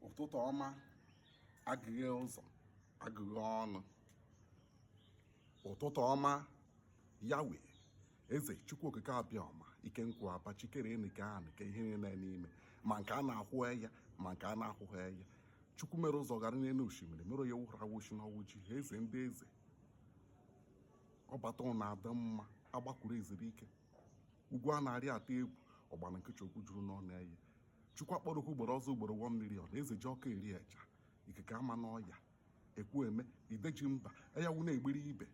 ụtụtụ ọma agụghị ụzọ agụghị ọnụ ụtụtụ ọma yawe eze chukwu okike abịama ike nkwụ aba chi kere enu kee ana kee ihe niile n'ime ma nke a na-ahụ anya ma nke a na-ahụghị anya chukwu mere ụzọ gara n'enu oshimiri mere onye wụrụ awụchi na ọwụchi eze ndị eze ọbata ụnọ adị mma agbakwuru ezuru ike ugwu a na-arị atụ egwu ọgbara nkịchị okwu juru n'ọnụ eye chukwu akpọrọ oku ugboro ọzọ ugboro one million eze ji ọkụ eri eja ikuku ama n'ọnya ekwu eme ide ji mba anyanwụ na-egbiri ibe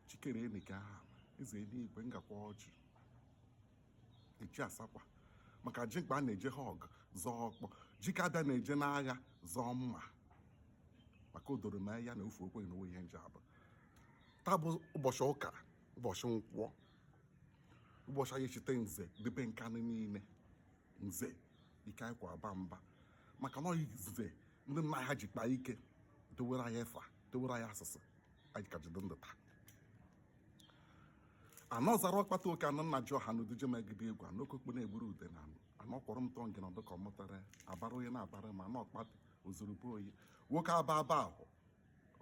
chi kere enu kee ana eze enuigwe ngakwa ọjị echi asakwa maka ji mkpa a na-eje ha ọgụ zọọ ọkpọ ji ka abịa na-eje n'agha zọọ mma maka o doro m anya na ofu okweghị na onwe ihe nje abụ taa bụ ụbọchị ụka ụbọchị nkwọ ụbọchị anyị ji echeta nze debe nkanụ niile nze ike anyị kwụ aba mba maka na nze ndị nna ha ji kpaa ike dewere anyị efa dewere anyị asụsụ anyị ka jide ndụ taa ana ọzara ọkpata nwoke ana nna ji ọha na uduje megide egwu ana okokpo na-egburu ude na anọ kwọrọ m tọọ ngị na ọdụ ka ọ mụtara abara onye na-abara ma ana ọkpata ozurube oyi nwoke aba aba ahụ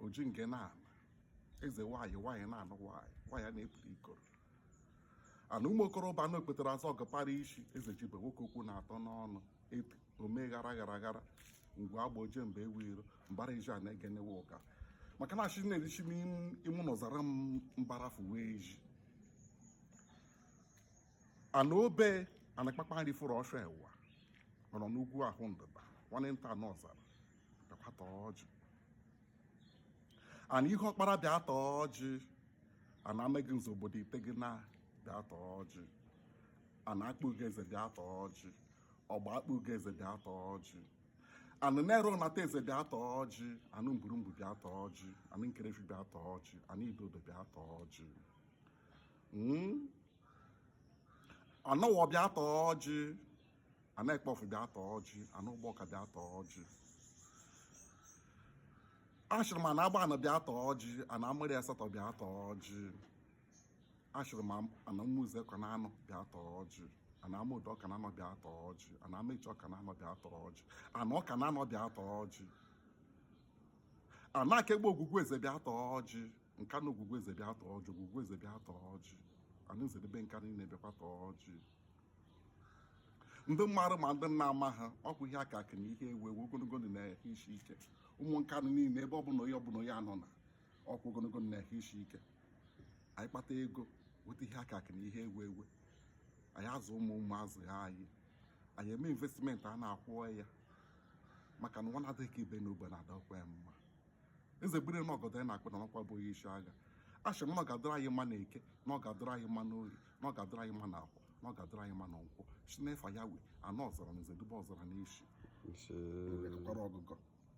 oji nke na-ana eze nwaanyị nwaanyị na-anụ nwaanyị nwaanyị a na-eburu ikoro ana ụmụ okorobịa na okpetara azọ ọgọpara isi eze jibe nwoke okwu na-atọ n'ọnụ ebi omee ghara ghara ghara ngwe agba oje mgbe ewu iro mbara iji a na-egenewe ụka maka na ashị na-erichi m imụ n'ọzara m mbara fuwe eji ana obe anakpakpa nri fụrụ ọsọ ewa nọrọ n'ugwu ahụ ndịda nwanne nta n'ọzara bịakwa taa ọjị ana ihuọkpara bịa taa ọjị ana amagunze obodo ite gị na bịa taa ọjị ana akpụgo eze bịa taa ọjị ọgba akpụgo eze bịa taa ọjị anụ nara unataeze bịa taa ọjị anụ mburumbu bịa taa ọjị anụ nkerefi bịa taa ọjị anụ idodo bịa taa ọjị Hmm? anụ owo bịa taa ọjị ana akpọfụ bịa taa ọjị anụ ugbọka bịa taa ọjị ashịrị m ana agbanị bịa taa ọjị ana amụrị asatọ bịa taa ọjị ashịrị m ana ụmụeze ọkụnanọ bịa taa ọjị ana amọdụ ọkụnanọ bịa taa ọjị ana amaechi ọkụnanọ bịa taa ọjị ana ọkụnanọ bịa taa ọjị ana akegbe ogwugwu eze bịa taa ọjị nkanụ ogwugwu eze bịa taa ọjị ogwugwu eze bịa taa ọjị ana nze debe nkanụ niile bịakwa taa ọjị ndị mmadụ ma ndị nna ama ha ọ bụ ihe akụ akụ na ihe enwe enwe ogologo ndụ na ehụ isi ike ụmụ Nkanu niile ebe ọbụla onye ọbụla onye anọ na ọkwa ogologo ndụ na ehụ isi ike anyị kpata ego weta ihe akụ akụ na ihe enwe enwe anyị azụ ụmụ ụmụ azụgha anyị anyị eme investment a na-akwụ ya maka na nwa na-adịghị ka ibe na ogbe na-adakwa ya mma eze gbere na ọgọdọ ya na-akpụ n'anị ọkwa bụ onye isi agha a sị m na ọ ga-adịrị anyị mma na eke na ọ ga-adịrị anyị mma na orie na ọ ga-adịrị anyị mma na afọ na ọ ga-adịrị anyị mma na nkwọ si n'efa ya wee anọ ọzara na eze dube ọzara na isi Ise. kwara ọgụgọ